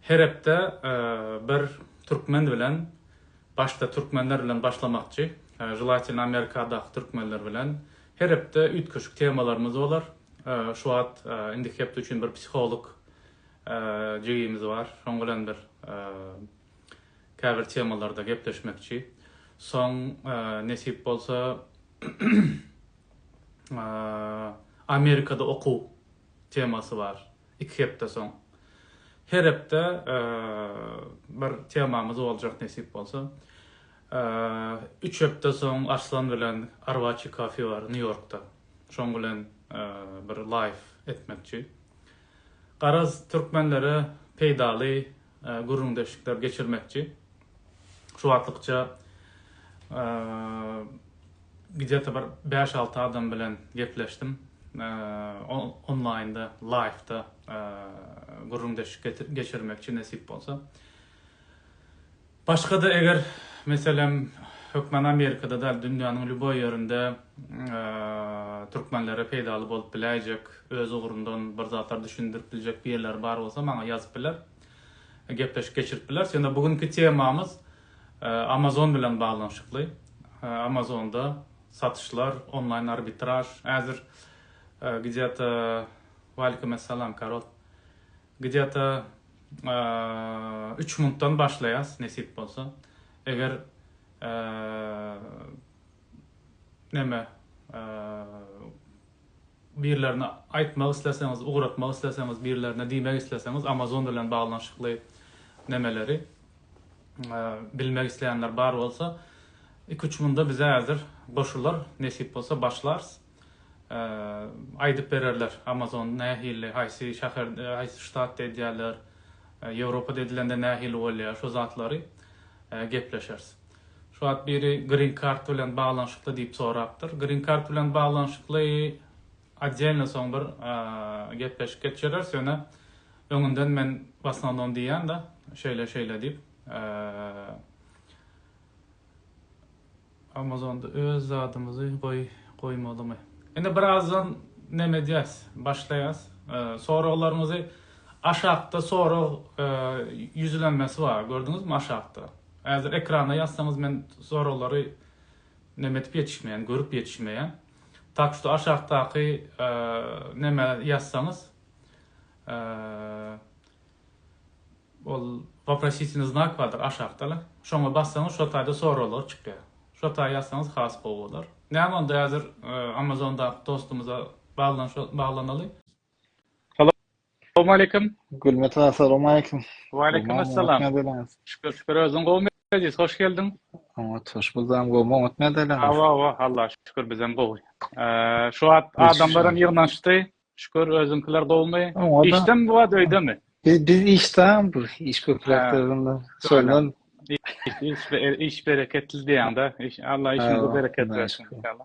Her hepde bir türkmen bilen başda türkmenler bilen başlamakçy želatelno amerikadaky türkmenler bilen her hepde üýtgeşik temalarymyz bolar şu wagt indiki hepde üçin bir psiholog jigimiz bar şoň bilen bir käbir temalarda gepleşmekçi soň nesip bolsa amerikada okuw temasy bar. iki hepde soň. Her hepde bir temamyz boljak nesip bolsa. Üç hepde soň Arslan bilen Arwaçi kafe bar New Yorkda. Şoň bilen bir live etmekçi. Garaz türkmenlere peýdaly gürrüňdeşlikler geçirmekçi. Şu wagtlykça gidýata bir bäş-alty adam bilen gepleşdim. Onlaýnda, laýwda gürrüňdeşlik geçirmekçi nesip bolsa. Başga-da eger, meselem, hökmany Amerikada däl, dünýäniň lýuboý ýerinde türkmenlere peýdaly bolup biläýjek, öz ugrundan bir zatlar düşündirip biljek birileri bar bolsa, maňa ýazyp biler. gepleşik geçirip bileris. Ýöne bu günki temamyz Amazon bilen baglanyşykly. Amazonda satyşlar, onlaýn arbitraž. Häzir gdýata Waleýkum essalam Karol. Gdýata üç muntdan başlaýas nesip bolsa. Eger neme birlerine aýtmak isleseňiz, ugratmak isleseňiz, birlerine diýmek isleseňiz, Amazon bilen baglanyşykly nemeleri bilmek isleýänler bar bolsa, iki-üç günde bize häzir goşular, nesip bolsa başlarys. Aýdyp bererler, Amazon nähili, haýsy şäher, haýsy ştatda edýärler, Ýewropada edilende nähili bolýar, şo zatlary gepleşeris. Şu wagt biri Green Card bilen baglanyşykly diýip sorapdyr. Green Card bilen baglanyşykly otdelno soň bir gepleşik geçireris, ýöne öňünden men w osnovnom diýýän-de, şeýle şeýle diýip. Amazonda öz zadymyzy goý goýmalymy? Indi birazdan neme edýäs, başlaýas. Soraglaryňyzy aşakda sorag ýüzlenmesi bar, gördüňizmi aşakda? Häzir ekrana ýazsaňyz men soraglary neme edip ýetişmeýän görüp ýetişmeýän. Tak şu aşakdaky neme ýazsaňyz ol waprositelny znak bardyr aşakdala şoňa bassaňyz şo taýda soraglar çykýar. Şo taý ýazsaňyz has gowy bolar. Näme onda häzir amazondaky dostumyza baglanyşy baglanaly. Salowmaleýkim. Gülmet aga salowmaleýkim. Waleýkim assalam. Şükür şükür özüň gowmy Eziz hoş geldiň. Oňat hoş buldum gowmy oňat nädeleň. Hawa hawa Allah şükür bizem gowy. Şu wagt adamlaram ýygnanyşdy. Şükür özüňkiler gowmy? Işdemi bu wagt öýdemi? Biz biz işdäm bu iş köpräkde onda. Şondan iş bereketli diýäňde. Allah işiňde bereket bersin inşallah.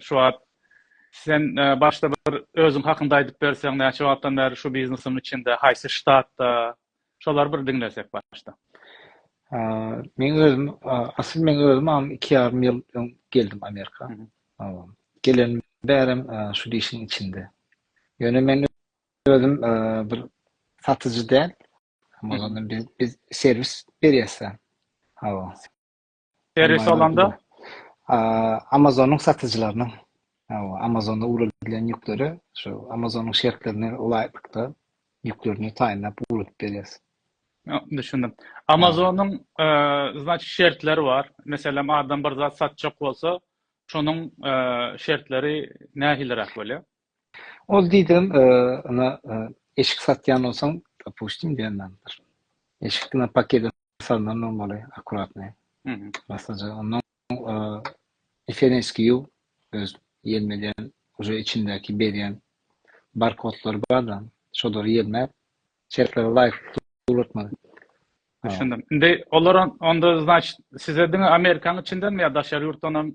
Şu wagt sen başda bir özüň hakynda aýdyp berseň, näçe wagtdan bäri şu biznesiň içinde, haýsy ştatda? Şolary bir diňlesek başda. Men özüm, asyl men özüm am 2 ýarym ýyl öň geldim Amerika. Gelen bärem şu işiň içinde. Ýöne men özüm bir satyjy däl. Biz serwis berýäs. Hawa. Serwis alanda Amazonyň satyjylarynyň Amazonda ugradilen ýükleri şu Amazonyň şertlerine laýyklykda ýüklerini taýynlap ugradyp berýäs. Düşündim. Amazonyň znaç şertleri bar. Meselem adam bir zat satjak bolsa, şonuň şertleri nähiliräk bolýar? Ol diýdim, ina, eşik satýan bolsaň, dopustim, diýendir. Eşik diňe pakede salnan bolmaly, akkuratny. Masaja, ondan FNSQ öz ýelmeleýän, uje içindäki berýän barkodlary bar-da, şolary ýelmäp, Çetlere laýyk suratmaly. Düşündim. Indi olar onda значит size diňe Amerikanyň içindenmi ýa daşary ýurtdan hem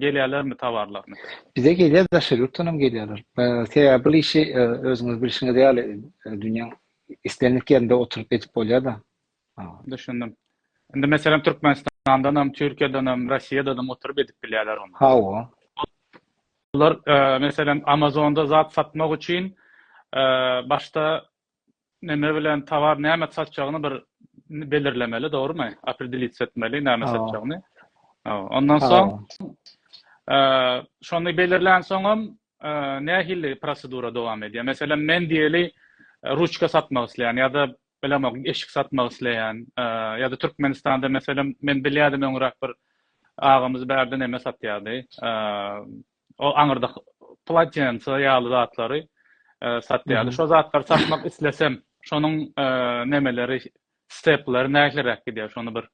gelýärlermi towarlaryny? Bize gelýär daşary ýurtdan hem gelýärler. Sebäbi bu işi özüňiz bilşiňiz ýaly dünýäň islendik ýerinde oturyp edip bolýar-da. Düşündim. Indi meselem Türkmenistandanam, Türkiýedenem, Rossiýadanam oturyp edip bilýärler ony. Hawa. Olar meselem Amazonda zat satmak üçin başda näme bilen towar näme satjagyny bir belirlemeli, dogrumy? Opredelits etmeli näme satjagyny. Ondan soň şony belirlän soňam nähili prosedura dowam edýär? Meselem, men diýeli ruçka satmak isleýän ýa-da bilemok, eşik satmak isleýän ýa-da Türkmenistanda meselem, men bilýärdim öňräk bir agamyz bärde näme satýardy, o aňyrda polatense ýaly zatlary satýardy. Şo zatlary satmak islesem, şonuň nemeleri, stepleri nähiliräk gidýär? Şony bir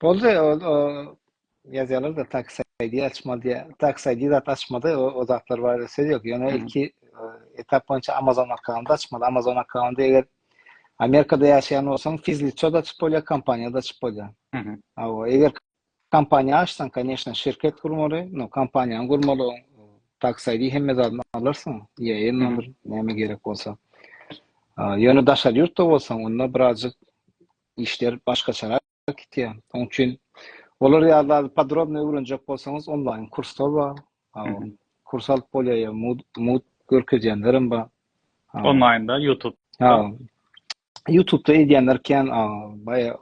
Boldy, o, o ýazýarlar da taksi aýdy açmaly diýýär. Taksi aýdy zat açmady, o, o zatlar barada söz ýok. Ýöne ilki e, etap boýunça Amazon akkaunty açmaly. Amazon akkaunty eger Amerikada ýaşaýan bolsaň, fizliçe da açyp bolýar, kompaniýa da açyp bolýar. Awa, eger kompaniýa açsaň, конечно, şirket gurmaly, no kompaniýany gurmaly, o, taksi aýdy hemme zadyny alarsyň, ýa-ýa nomer, näme gerek bolsa. A, Ýöne daşary ýurtda bolsaň, onda birazjyk işler başgaçarak gitýär. Şonuň üçin olar ýaly zady podrobno öwrenjek bolsaňyz onlaýn kurslar bar. Kurs alyp bolýar ýa mugt görkezýänler hem bar. Onlaýnda YouTube. Ha. YouTube-da edýänler kän baýa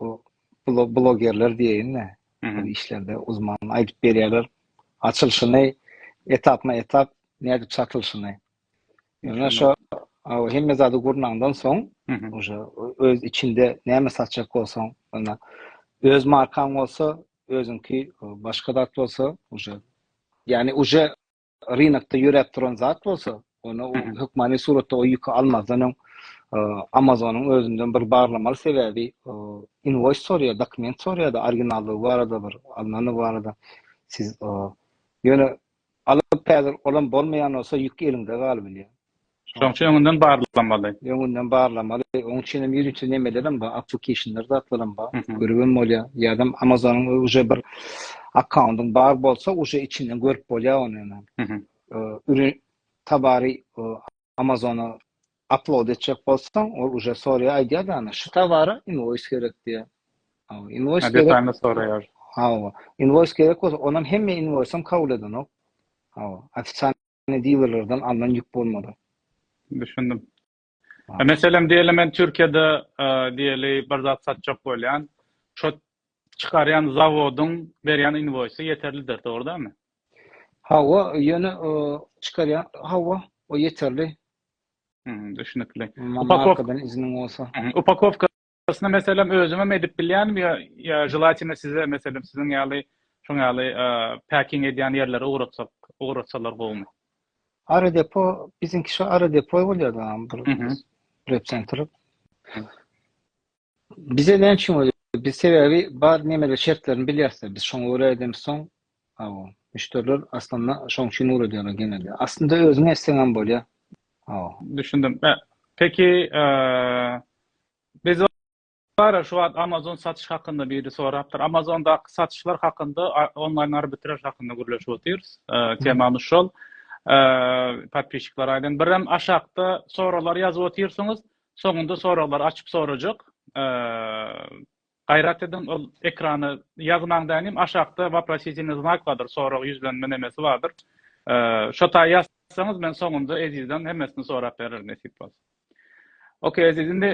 blogerler diýeýin-de. Bu işlerde uzman aýdyp berýärler. Açylyşyny etapma-etap nädip çatylyşyny. Ýöne şo hemme zady gurnaňdan soň, oje öz içinde näme satjak bolsaň, ýöne öz markaň bolsa, özüňki başga zat bolsa, oje ýagny oje rynakda ýöräp duran zat bolsa, ony hökmany suratda o ýüki almazdan öň Amazonyň özünden bir barlamaly sebäbi inwoýs soraýar, dokument soraýar-da originallygy barada bir alnany barada siz ýöne Alyp häzir olam bolmaýan bolsa ýük eliňde galybilýär. Şoň üçin öňünden barlamaly. Öňünden barlamaly. Oň üçinem ýörite nemelerem bar, applicationlar zatlaram bar. Görübem bolýar. Ýadam Amazonyň uje bir akkaundyň bar bolsa uje içinden görüp bolýar ony ýöne. Ürün tabary Amazona upload etjek bolsaň, ol uje soraýar, aýdýar da ýany, şu towara inwoýs gerek diýýär. Hawa, inwoýs gerek. Detalny soraýar. Hawa, inwoýs gerek bolsa, onam hemme inwoýsam kabul edenok. Hawa, ofitsialnyý dilerlerden alnan ýük bolmaly. Düşündim. Meselem, diýeli men Türkiýede diýeli bir zat satjak bolýan, şo çykarýan zawodyň berýän inwoýsy ýeterlidir, dogry dälmi? Hawa, ýöne çykarýan hawa, o ýeterli. Hmm, düşünikli. Markadan izniň bolsa. Upakowkasyny meselem özüňem edip bilýänmi ýa ýa želatini size meselem siziň ýaly şoň ýaly packing edýän ýerlere ugratsak, ugratsalar gowumy? Ara depo biziňki şu ara depo bolýar da bir rep center. Bize näme üçin bolýar? Biz sebäbi bar nemeler şertlerini bilýäris-de, biz şoňa görä edemis soň, hawa, müşderiler aslynda şoň üçin ugur edýärler genelde. Aslynda özüňe etseňem bolýar, hawa. Düşündim. Ä, peki, ä, biz bara şu wagt Amazon satyş hakynda biri sorapdyr. Amazondaky satyşlar hakynda, a, onlaýn arbitraž hakynda gürleşip otyrys. Ä, temamyz şol. Ä, podpisçikler aýdan. Birem aşakda soralar ýazyp otyrsyňyz. Soňunda soraglar açyp sorajak. Gaýrat ediň ol ekrana ýazmaň dänim aşakda waprositelny znak bardyr sorag ýüzlenme nemesi bardyr. Şo taýy ýazsaňyz men soňunda Ezizden hemmesini sorap bererin nesip bolsa. Ok Eziz indi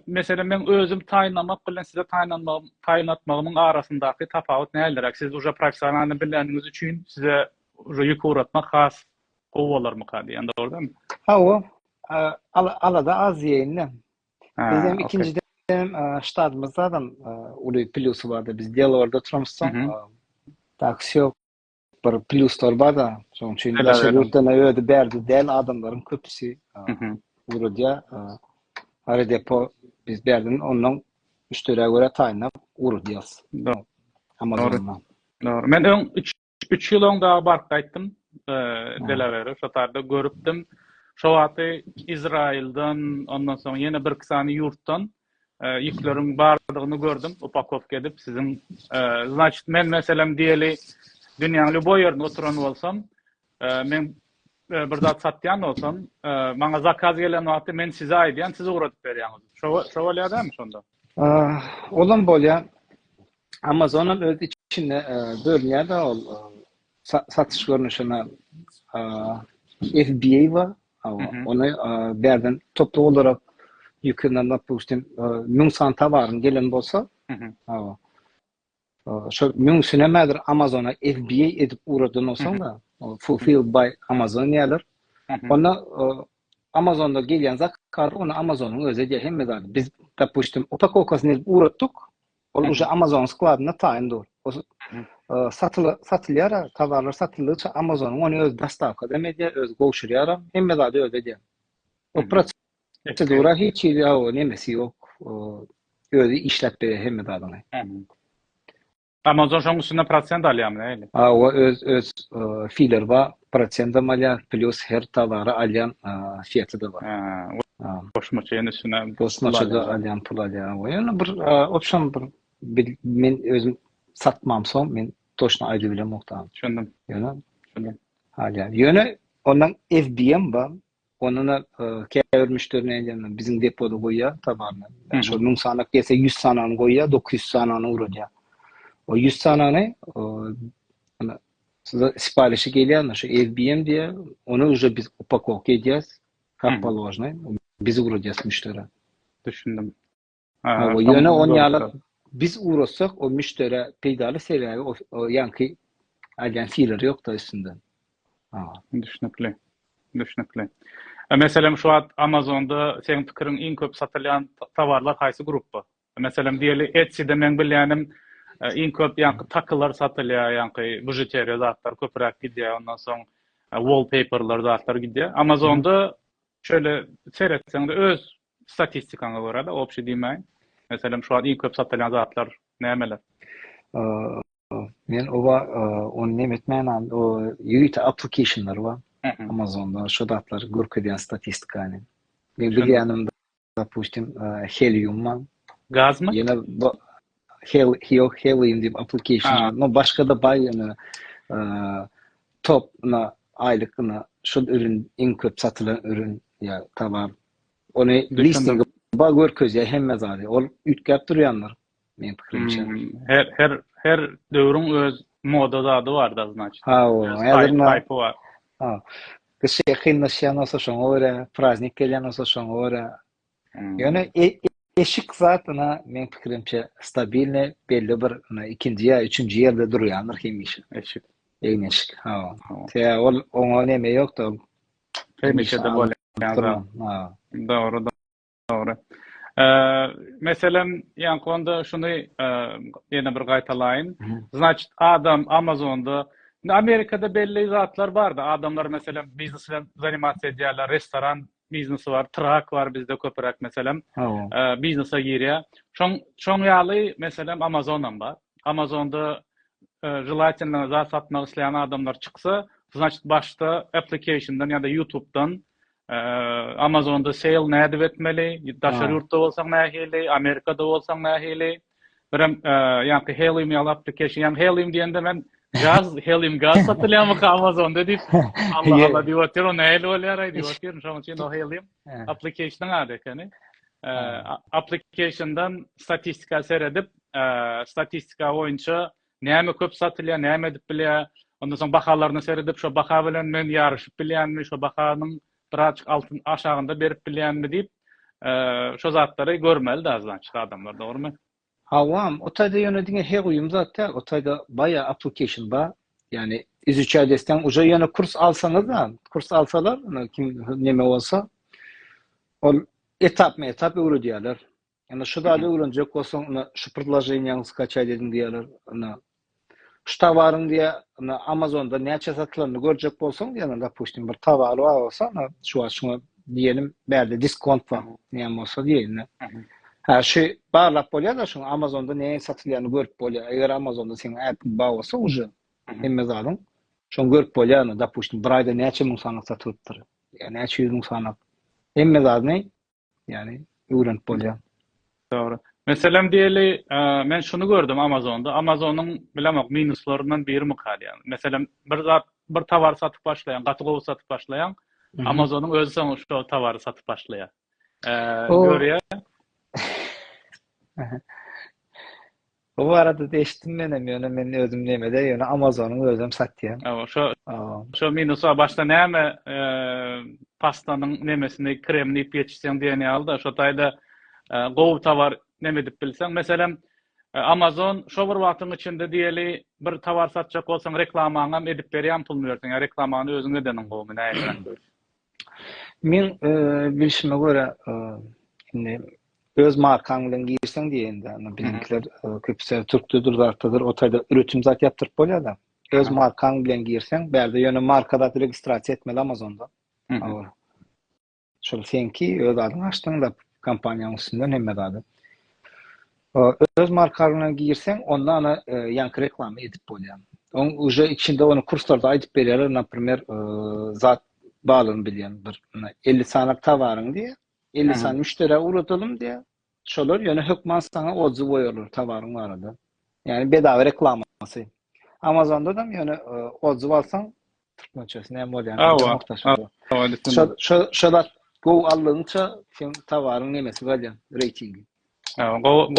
meselem men özüm taýynlamak bilen size taýynlanmagym taýynlatmagymyň arasyndaky tapawut näderäk siz uja professionalny biläniňiz üçin size uja ýük ugratmak has Gowy bolarmyka diýen dogrudanmy? Hawa, alada az diýeýin-de. Bizem ikinjiden hem ştatymyzda adam uly plýusy bardy. Biz Delawerde oturamyzsoň, taksi ýok. Bir plýuslar bar-da, şonuň üçin daşary ýurtdan öýde bärde däl adamlaryň köpüsi ugrudýar. Aerodepo biz bärden ondan müşderä görä taýynlap ugrudýarys. Dogry. Men öň Üç ýyl öň dagy baryp gaýtdym Delaware, şo tarda görüpdim. Şo wagty Izrailden, ondan soň ýene bir iki sany ýurtdan ýükleriň bardygyny gördüm, upakowka edip siziň. Значит, men meselem diýeli dünýäň lýuboý ýerinde oturan bolsam, men bir zat satýan bolsam, maňa zakaz gelen wagty men size aýdýan, siz ugradyp berýäňiz. Şo şo bolýar dämi şonda? Olam bolýar. Amazonam öz içinde e, bölünýär da ol e, sa- satyş görnüşine e, FBA bar. Awa, Mhm. Ony e, bärden toplu olarak ýükünden dopustim e, müň san towaryň gelen bolsa, Mhm. awa. e, Şol müňsüne mädir Amazona FBA edip ugradan bolsaň da, o fulfilled by Amazon diýerler. Mhm. Onda e, Amazonda gelýän zakaz ony Amazonyň özi edýär hemme zady. Biz dopustim upakowkasyny edip ugratdyk. Ol uje Amazon skladynda taýyn dur. O satyla satylýar, towarlar satyldygyça Amazon ony öz dostawka hem edýär, öz gowşurýar hem, hemme zady öz edýär. O prosedura hiç hili o nemesi ýok. Özi işläp berýär hemme zadyny. Amazon şoň üstünde prosent alýarmy nähili? A, o öz öz filer ba, Prosentam alýar, plus her towary alýan seti-de bar. Ha, goşmaça ýene içine goşmaça-da alýan pul alýar. We ýene bir opsiýa bir men özüm satmamsoň men toçna aýdyp bilemok da. Düşündim. Ýöne, düşündim. Alýar. Ýöne ondan FBM bar. Onda-da käbir müşderi nädýär, biziň depoda goýýar towaryny. Şol müň sanak gelse, ýüz sanany goýýar, dokuz ýüz sanany ugradýar. O ýüz sanany size siparişi gelýär, şu FBM diýýär, ony uje biz upakowka edýäs, kap položnyý, biz ugradýas müşderä. Düşündim. Hawa, ýöne on ýaly biz ugrasak, o müşderä peýdaly, sebäbi o ýaňky aýdýan feeler ýok-da üstünde. Hawa. Düşnükli. Düşnükli. Meselem şu wagt Amazonda seň pikiriň iň köp satylýan towarlar haýsy grupba? Meselem diýeli Etsyda meň bilýänim iň köp ýaňky takylar satylýar, ýaňky bužuteriýa zatlar köpräk gidýär, ondan soň wallpaperler zatlar gidýär. Amazonda şeýle seretseňde öz Statistikaňa görä-de, obşi diýmäýin. Meselem, şu wagt iň köp satylýan zatlar nämeler? Men oba ony neme etmänem, o ýörite applicationlar bar. Amazonda şu zatlar görkezýän statistikany. Men bilýänim, dopustim, Helium bar. Gazmy? Ýene bu Hel Hel Helium diýip application, no başga-da baý ýöne top na aýlyk na şul ürün iň köp satylan ürün ýa tobar Ony listingi ba görkezýär hemme zady. Ol üýtgäp durýandyr meň pikirimçe. Hmm, her her her döwrüň öz moda zady barda znaçt. Ha, o, häzir taýpy bar. Ha. Kişi kynlaşýan bolsa şoňa görä, praznik gelýän bolsa şoňa görä. Hmm. Ýöne e, e, eşik zat ina meň pikirimçe stabilne belli bir ina ikinji ýa üçünji ýerde durýandyr hemişe. Eşik. Egin eşik. Ha. Te ol oňa neme ýokda. Hemişede bolýar. Dogry, dogry. Meselem, ýaňky onda şuny ýene bir gaýtalaýyn. Znaçit, adam Amazonda, indi Amerikada belli zatlar bar-da, adamlar meselem biznes bilen zanimasiýa edýärler, restoran biznesi bar, trak bar bizde köpüräk meselem, biznese girýär. Şoň, şoň ýaly meselem Amazon hem bar. Amazonda Želatindan zat satmak isleýän adamlar çyksa, znaçt başda applicationdan ýa-da ýutubdan Amazonda sale nädip etmeli, daşary ýurtda bolsaň nähili, Amerikada bolsaň nähili. Birem ýa-da helium ýaly application, ýa-da helium diýende men gaz, helium gaz satylýarmy Amazonda diýip, Allah Allah diýip otyr, o nähili bolýar aý diýip otyr, şonuň üçin o helium application-yň ady ekeni. Application-dan statistika seredip, statistika boýunça näme köp satylýar, näme edip bilýär, ondan soň bahalaryna seredip, şo baha bilen men ýaryşyp bilýänmi, şo bahanyň birazajyk altyn aşagynda berip bilýänmi diýip, şo zatlary görmeli dagy znaçki adamlar, dogrymy? Hawa, o taýda ýöne diňe he guýum zat däl, o taýda baýa application bar, ýagny izuçaýt etseň, uje ýöne kurs alsaňyz-da, kurs alsalar, kim neme bolsa, ol etapma-etap öwredýärler. Ýa-da şu zady öwrenjek bolsaň, ina şu predloženiýany skaçaý dedim diýýärler. Ina şu towaryň diýä, ina Amazonda näçe satylandyny görjek bolsaň diýýärler, dopustim, bir towary bar bolsa, ina şu wagt şuňa diýenim, bärde diskont bar. Näme bolsa diýeýin. Ha, şu barlap bolýar-da, şuň Amazonda näme satylýanyny görüp bolýar. Eger Amazonda seň äpiň bar bolsa uje hemme zadyň şony görüp bolýar. Ina dopustim, bir aýda näçe müň sanak satylypdyr. Ýa näçe ýüz müň sanak. Hemme zadyny ýany öwrenip bolýar. Dogry. Meselem diýeli, men şuny gördüm Amazonda. Amazonyň bilemok minuslaryndan birimika diýýän. Meselem, bir zat, bir tower satyp başlaýaň, gaty gowy satyp başlaýaň. Amazonyň özi soň şo towary satyp başlaýar. Eee, görýär. Bu baradada eşitdim menem ýöne men özüm nemede ýöne amazonyň özem satýan. Awa şo şo minusa başda näme pastanyň nemesini krem diýip ýetişseň diýen ýalyda şo taýda gowy towar neme edip bilseň meselem amazon şo bir wagtyň içinde diýeli bir towar satjak bolsaň reklamaňam edip berýän puluny berseň ýa reklamany özüň edeniň gowumy näme Meň bilşime görä, indi öz markaň bilen girseň diýende, indi biziňkiler köpüsi türkdedir, zatdadyr, o taýda üretim zat ýapdyryp bolýar-da. Öz markaň bilen girseň, bärde ýöne marka zat registrasiýa etmeli Amazonda. Awal. Şol seňki öz adyňy açdyň-da kompaniýanyň üstünden hemme zady. Öz markaň bilen girseň, onda ana ýaňky reklama edip bolýar. Oň uje içinde ony kurslarda aýdyp berýärler, naprimer, zat balygyny bilýän bir muna elli sanak tawaryň diýýär. Elli sany müşderä ugradalym diýýär. Şolar ýöne hökman saňa odzy goýarlar tawaryň barada. Ýani bedawa reklamasy. Amazonda-dam ýöne odzy alsaň türkmençesi näme bolýan Şo şo zat gowy aldygyňça seň tawaryň nemesi galýar reýtingi.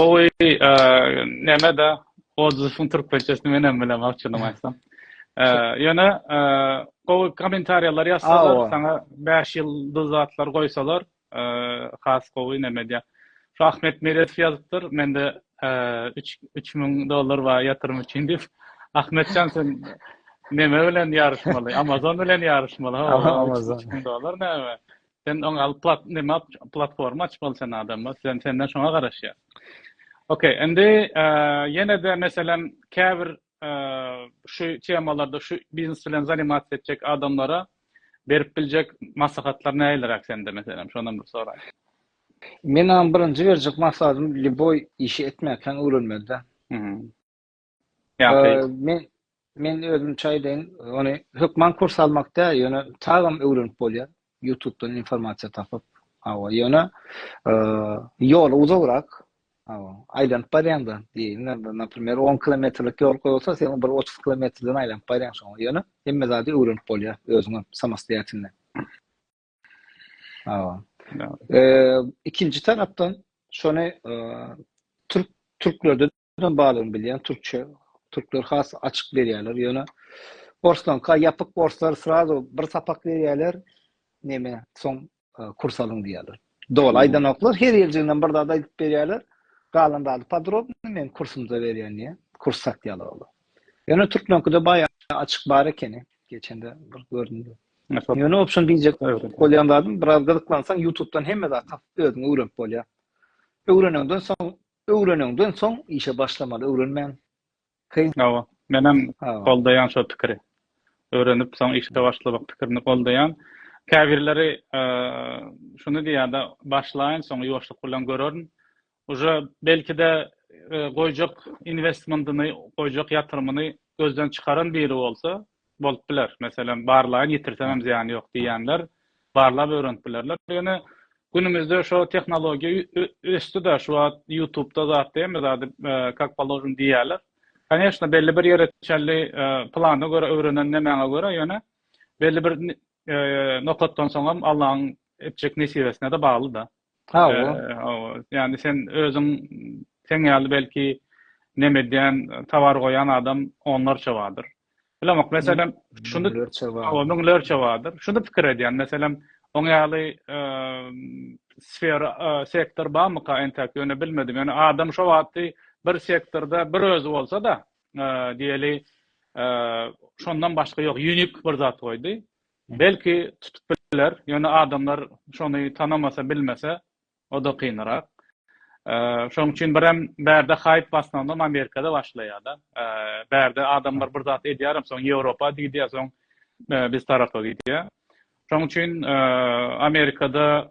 Gowy näme-de Oduzyň türkmençesini men hem bilemok açygyny aýtsam. Ýöne gowy kommentariýalar ýazsalar, saňa 5 ýyldyz zatlar goýsalar, has gowy näme diýýär. Şu Ahmet Meredow ýazypdyr, mende 3000 dollar bar ýatyrym üçin diýip. Ahmetjan sen näme bilen ýaryşmaly? Amazon bilen ýaryşmaly. Amazon. 3000 dollar näme? Sen oňa al plat nima platforma açmaly sen adamma sen senden şoňa garaşýar. Okey, indi ýene-de meselem käbir şu temalarda şu biznes bilen zanimat etjek adamlara berip biljek maslahatlar nälerak sende meselem şondan bir soraý. Menam birinji berjek maslahatym lýuboý işi etmäkden öwrenmeli-de. Men men özümçe aýdaýyn, ony hökman kurs almak däl, ýöne çagam öwrenip bolýar. YouTube-dan informasiýa tapyp, hawa, ýöne ýoly uzagrak, hawa, aýlanyp barýaňda, diýeýin, naprimýr, 10 kilometrlik ýol goýulsa, sen bir 30 kilometrden aýlanyp barýaň şoňa, ýöne hemme zady öwrenip bolýar özüňem samostoýatelno. Hawa. Ikinji tarapdan şony türk türklerde Ýöne balygyny bilýän türkçe türkler has açyk berýärler ýöne orslaňka ýapyk borslar srazu bir sapak berýärler neme soň e, kurs alyň diýýärler. Doly aýdanoklar her ýerjigden bir zat aýdyp berýärler. Galan zady podrobny men kursumda berýän diýä. Kurs satýarlar olar. Ýöne türkmenkide baýa açyk bar ekeni. Geçende bir göründi. Ýöne opşun diýjek bolýan zadym biraz gyzyklansaň YouTube'dan hemme zat tapyp özüň öwrenip bolýar. Öwrenenden soň Öwrenenden soň işe başlamaly öwrenmän kyn. Hawa. Menem goldaýan şo pikiri. Öwrenip soň işe başlamak pikirini goldaýan. Käbirleri şuny diýýärda başlaýyn soň ýuwaşlyk bilen görerin. Uje belkide goýjak inwestmentyny goýjak ýatyrymyny gözden çykaran biri bolsa bolup biler. Meselem, barlaýyn, ýitirsem hem zyýany ýok diýýänler barlap öwrenip bilerler. Ýöne günümizde şo tehnologiýa ösdi-de, şu wagt Ýutubda zat hemme zady kak položen diýýärler. Koneşna, belli bir ýere çenli plana görä öwrenen nemäňe görä, ýöne belli bir nokatdan soň hem Allaň etjek nesibesine-de bagly-da. Hawa. Hawa. Ýani sen özüň sen ýaly belki neme edýän, towar goýan adam onlarça bardyr. Bilemok, meselem, şuny müňlerçe bardyr. Şuny pikir edýän, meselem, oň ýaly sfera, sektor barmyka entäk ýöne bilmedim. Ýöne adam şo wagty bir sektorda bir özi bolsa-da, diýeli, şondan başga ýok, unique bir zat goýdy. Belki tutup biler, ýöne adamlar şony tanamasa bilmese oda kynrak. Şoň üçin birem bärde haýp basnagynam Amerikada başlaýada. Bärde adamlar bir zat edýärem soň Ýewropa gidýär soň biz tarapa gidýär. Şoň üçin Amerikada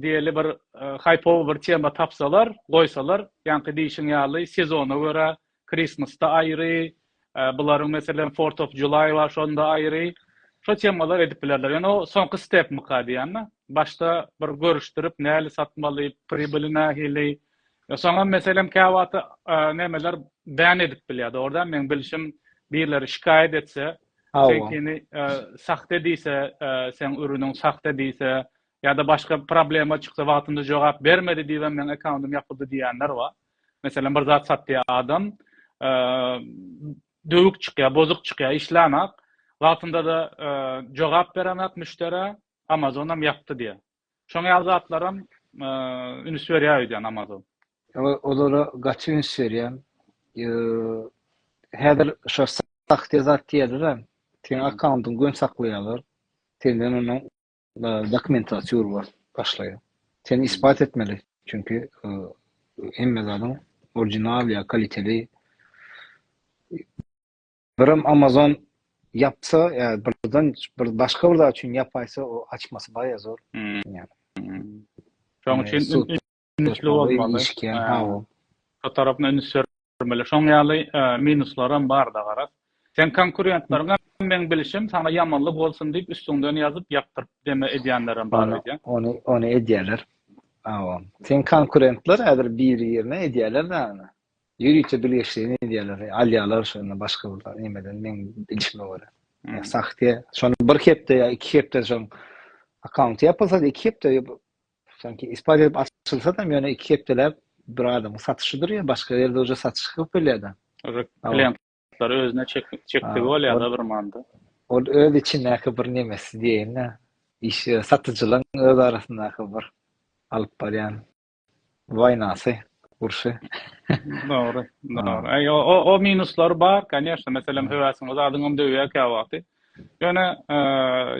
Diýeli bir haýpowy bir tema tapsalar, goýsalar, ýaňky diýşiň ýaly sezona görä Christmas-da aýry, bularyň meselem Fourth of July bar şonda aýry. Şo temalar edip bilerler. Ýöne o soňky stepmyka diýýän-de. Başda bir görüşdirip näli satmaly, pribili nähili. Soňam meselem käwagt nemeler bän edip bilýär. Dogrudan meň bilşim birleri şikaýat etse, seňkini sahte diýse, seň ürüniň sahte diýse, Ýa-da başga problema çyksa wagtynda jogap bermedi diýibem meň akkauntym ýapyldy diýýänler bar. Meselem bir zat satýar adam, döwük çykýar, bozuk çykýar, işlänak, wagtynda-da jogap berenak müşderä, Amazonam ýapdy diýýär. Şoňa ýaly zatlaram üns berýär öýdýän Amazon. Olara gaty üns berýän. Häzir şo sahte zat diýerlerem, seň akkauntyňy göni saklaýarlar. Senden onuň Dokumentlary çygyr bor, başlaýar. Sen isbat etmeli, çünki hemme zadyň orijinal ýa kaliteli Birim Amazon ýapsa, ýa birden bir başga bir zat üçin ýapaýsa, o açmasy baýa zor. Şoň üçin Ünsli bolmaly. Şu tarapyna üns bermeli. Şoň ýaly minuslaram bar-da garaz. Seň konkurentlaryňam meň bilişim saňa ýamanlyk bolsun diýip üstüňden ýazyp ýapdyryp deme edýänlerem bar öýdýän. Ony ony edýäler. Hawa. Seň konkurentler häzir biri-birine edýäler däne. Ýörite bilgeşligini edýäler. Alýalar şonda başga bir zat nimeden meň bilişime görä. Sahte. Şony bir hepde ýa iki hepde soň akkaunty ýapylsa iki hepde Sanki isbat edip açylsadam ýöne iki hepdeläp bir adamyň satyşydyr ýa başga ýerde uje satyşyk ýok bolýada. Klientlary özüne çekdigi bolýada bir manda. Ol öz içindäki bir nemesi diýeýinda iş satyjylaň öz arasyndaky bir alyp barýan waýnasy urşy. Dogry dogry. Aý o minuslar bar kanyýeşna meselem höwesiňe zadyňam döwýä käwagty. Ýöne,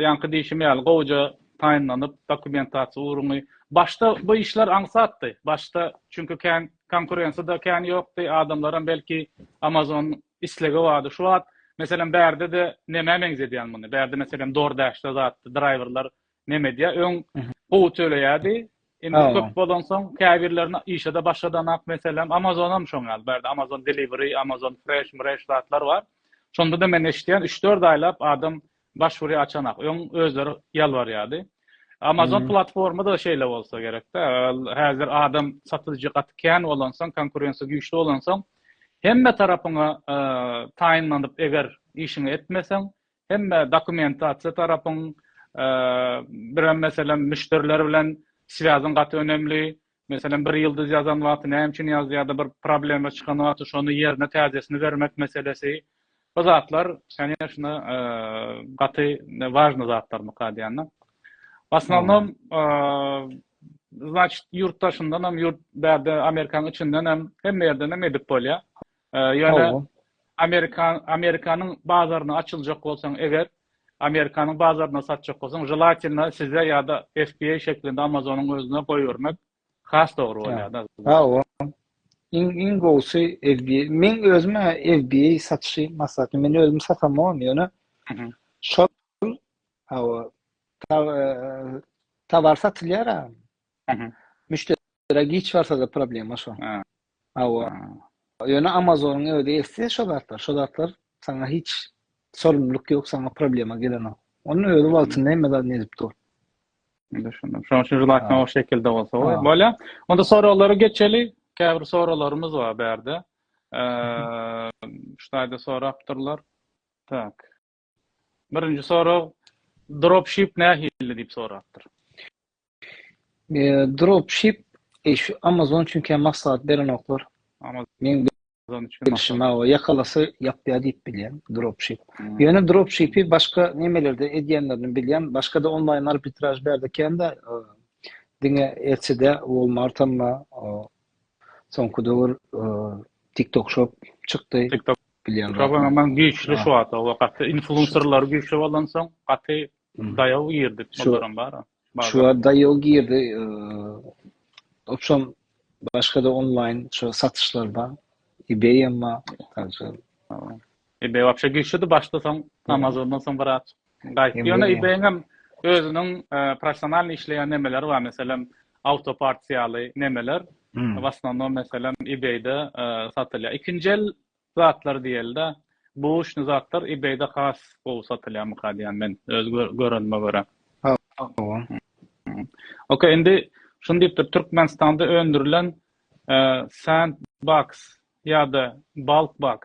ýaňky diýşim ýaly, gowuja taýynlanyp, dokumentasiýa ugruny, başda bu işler aňsatdy. Başda, çünki kän konkurensiýa-da kän ýokdy, adamlaram belki Amazon islegi bardy. Şu wagt, meselem, bärde-de nämä meňzedýäň muny? Bärde, meselem, DoorDash-da zatdy, draýwerler Neme diýýär, öň gowy töleýärdi, indi köp bolansoň käbirlerini işe-de başladanok, meselem, Amazon-am şoň ýaly, bärde Amazon Delivery, Amazon Fresh, Mresh zatlar bar. Şonda-da men eşidýän, üç-dört aýlap adam baş urýar, açanok. Öň özleri ýalbarýardy. Amazon platforma-da şeýle bolsa gerek-de, häzir adam satyjy gaty kän bolansoň, konkurensiýa güýçli bolansoň, hemme tarapyňa taýynlanyp eger işiňi etmeseň, Hemme dokumentasiýa tarapyň birem meselem müşderiler bilen swýazyň gaty önemli. Meselem bir ýyldyz ýazan wagty näme üçin ýazdy ýa-da bir problema çykan wagty şony ýerine täzesini bermek meselesi. Bu zatlar kanyşna gaty wažny zatlar mykal diýende. Asnownom Значит, ýurt daşyndan hem, ýurt bärde Amerikanyň içinden hem hemme ýerden hem edip bolýar. Ýöne Amerika, Amerikanyň bazaryna açyljak bolsaň eger, Amerikanyň bazaryna satjak bolsaň, želatina size ýa-da FBA şeklinde Amazonyň özüne goýbermek has dogry bolýar-da. Hawa. Iň, iň gowusy FBA. Meň özüm-ä FBA satyşy maslahaty, men özüm satamogam, ýöne şol, hawa, tower satylýar-a. Müşderä giç barsa-da problema şo. Hawa. Ýöne Amazonyň özi esse şo zatlar, şo zatlar saňa hiç sorumluluk ýok, saňa problema gelenok. Onuň özi wagtynda hemme zadyny edip dur. Düşündim. Şonuň üçin želakna o şekilde bolsa goý. Bolýa. Onda soraglara geçeli. Käbir soraglarymyz bar bärde. Eee, ştaýda sorapdyrlar. Tak. Birinji sorag dropship nähili diýip sorapdyr. E, dropship e, şu Amazon üçin hem maslahat berenoklar. Amazon üçin bilşime o ýakalasy ýapýar diýip bilýän dropship. Hmm. Ýöne dropshipi başga nemelerde edýänlerini bilýän, başga-da onlaýn arbitraž berde kende e, diňe Etsy-de, Walmart hem soňky döwür e, TikTok shop çykdy. TikTok Şaban aman güýçli şu wagta we gaty influencerlary güýçli bolansoň gaty daýaw girdi şolaram bar. Şu wagt daýaw girdi. Opşam başga da onlaýn şu satyşlar bar. eBay hem bar. Także. eBay wapşe güýçlidi başda soň Amazondan soň biraz Gaýt. Ýöne eBay-iňem özüniň professionalnyý işleýän nemeleri bar, meselem, Autoparts ýaly nemeler, w asnownam meselem eBay-de satylýar. Ikinji el zatlar diýeli-de, buwuşny zatlar eBay-de has gowy satylýarmyka diýýän men, öz görenime görä. Hawa. Okey, indi şuny diýipdir, Türkmenistanda öndürilen Sandbox Ýada bulk box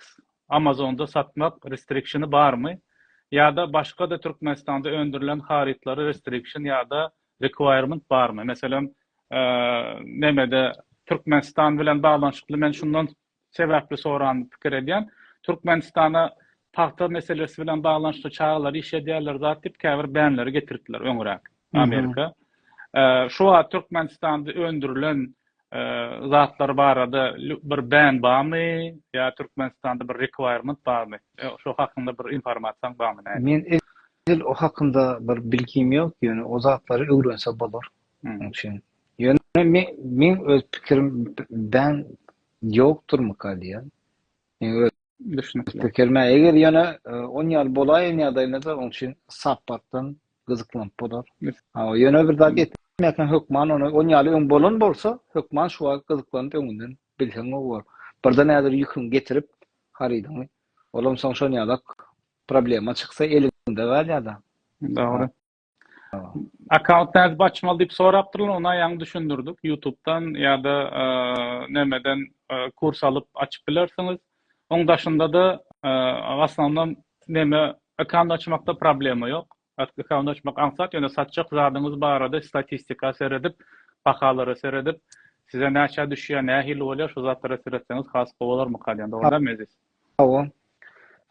amazonda satmak restrikşini barmy? Ýada başgada türkmenistanda öndürilen harytlary restrikşin ýada requirement barmy? Meselem nemede türkmenistan bilen baglanyşykly men şundan sebäpli soran pikir edýän türkmenistana pagta meselesi bilen baglanyşykly çagalar iş edýärler zat diýip käbir bänleri getiripdiler öňüräk amerika şu wagt türkmenistanda öndürilen zatlar barada bir bän barmy ýa türkmenistanda bir requirement barmy şo hakynda bir informasiýaň barmy nädip. Men edil o hakynda bir bilgim ýok ýöne o zatlary öwrense bolar oň üçin ýöne men meň öz pikirim bän ýokdurmyka diýýän meň öz Düşünikli. Pikirme, eger ýöne 10 e, ýaly bolaýan ýagdaýynda oň üçin sapakdan gyzyklanyp bolar. Ha, ýöne bir zat etmekden hökman ony 10 ýaly öň bolan bolsa, hökman şu wagt gyzyklanyp öňünden bilseň bor. Birde nädir ýüküň getirip harydyňy. Olam soň şon ýalak problema çyksa elinde galýar-da. Dogry. Account nädip açmaly diýip sorapdyrlar, ona ýaňy düşündirdik. YouTube-dan ýa-da nämeden kurs alyp açyp bilersiňiz. Oň daşynda-da aslynda näme account açmakda problema ýok. Account açmak aňsat, ýöne satjak zadyňyz barada statistika seredip, bahalara seredip, size näçe düşýär, nähili bolýar, şu zatlara seretseňiz has gowy bolarmyka diýen, dogrumy? Hawa.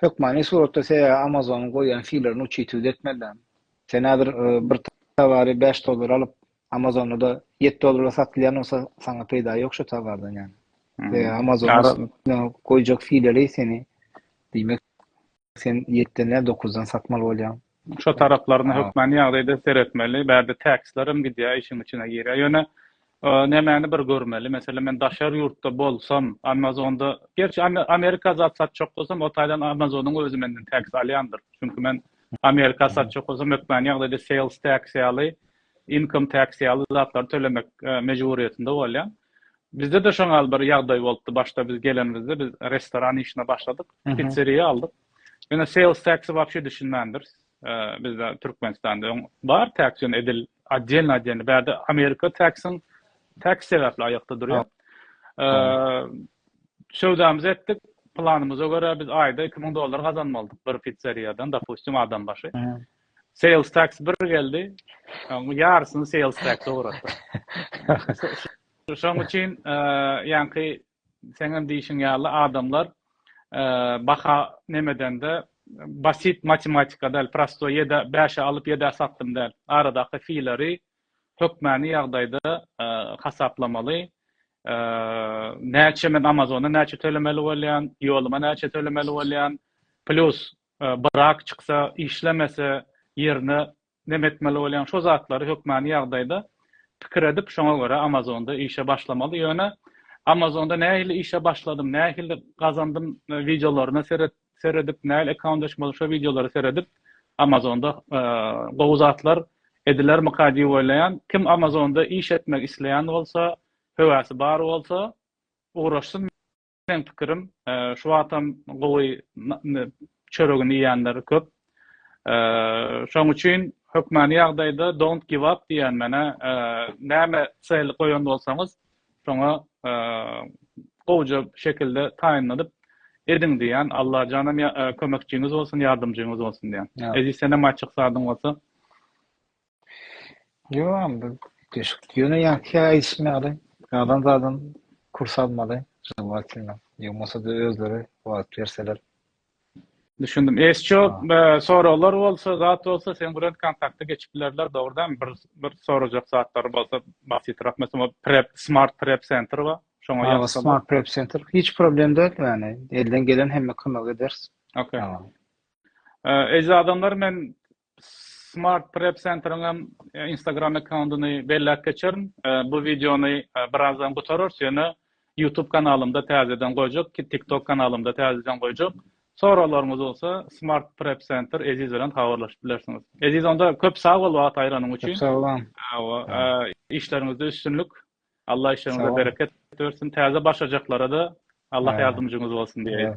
Hökmany suratda size Amazonyň goýýan sylaryny uçytw etmeli. Sen häzir bir towary bäş dollara alyp, Amazonda-da ýeti dollara satylýan bolsa, saňa peýda ýok şo towardan ýaly. Size Amazonyň goýjak sylary seni, diýmek, sen ýetden däl, dokuzdan satmaly bolýaň. Şu taraplaryna hökmany ýagdaýda seretmeli. Bärde täksler hem gidýär, işiň içine girýär. Ýöne nämäni bir görmeli, meselem, men daşary ýurtda bolsam, Amazonda, gerçi Amerika zat satjak bolsam, o taýdan Amazonyň özi menden täks alýandyr. Çünki men Amerika satjak bolsam, hökmany ýagdaýda sales tax ýaly, income tax ýaly zatlary tölemek mejburyýetinde bolýan. Bizde-de şoňal bir ýagdaý bolupdy. Başda biz gelenimizde biz restoran işine başladyk, pitseriýa aldyk. Ýöne sales tax-y wapşe düşünmändir. Bizde Türkmenistanda öň bar tax ýöne edil otdelny otdelny bärde Amerika tax-yň tax sebäpli aýakda durýar. Söwdamyzy etdik. Planymyza görä biz aýda 2000 dollar gazanmalydyk bir pizzeriýadan dopustim adam başy. Sales tax bir geldi. Oň ýarysyny sales tax-a ugratdyk. Şoň üçin ýaňky seňem diýişiň ýaly adamlar baha nemedende basit matematika däl prosto ýedä bäşe alyp ýedä satdym däl aradaky fileri hökmäni ýagdaýda hasaplamaly näçe men amazona näçe tölemeli bolýan ýoluma näçe tölemeli bolýan plus brak çyksa işlemese ýerine Näme etmeli bolýaň? Şo zatlary hökmany ýagdaýda pikir edip, şoňa görä Amazonda işe başlamaly. Ýöne Amazonda nähili işe başladym, nähili gazandym wideolaryna seret, seredip, nähili akkaunt açmaly şo wideolary seredip, Amazonda gowy zatlar edilermika diýip oýlaýan. Kim Amazonda iş etmek isleýän bolsa, höwesi bar bolsa, ugraşsyn. Meň pikirim, şu wagtam gowy çöregini iýenler köp. Şoň üçin hökmany ýagdaýda don't give up diýen menä näme sel goýan bolsaňyz, şoňa gowja şekilde taýynlanyp ediň diýen. Allajanam kömekçiňiz bolsun, ýardamjyňyz bolsun diýen. Eziz senem aýtjak zadyň bolsa? Ýoam bir deşik. Ýöne ýaňky ýaly aýdyşym ýaly, adam zadam kurs almaly, želwatynda. Ýogmasa-da özleri wagt berseler. Düşündim. Ýeşjo be soraglar bolsa, zat bolsa seň bilen kontakta geçip bilerler, dogrydanmy? Bir bir sorajak zatlary bolsa, basitrak meselem o prep, smart prep center bar. Şoňa ýazsalar. Hawa, smart prep center. Hiç problem däl, ýagny elden gelen hemme kömegi ederis. Okey. Eje adamlar men Smart Prep Centeriň hem Instagram akkauntyny belläp geçerin. Bu wideony birazdan gutararys, ýöne YouTube kanalymda täzeden goýjak, TikTok kanalymda täzeden goýjak. Soraglaryňyz bolsa Smart Prep Center Eziz bilen habarlaşyp bilersiňiz. Eziz onda köp sag bol wagt aýranyň üçin. Köp sag bol. Hawa, işleriňizde üstünlik. Allah işleriňize bereket bersin. Täze başlajaklara-da Allah ýardymjyňyz bolsun diýeýin.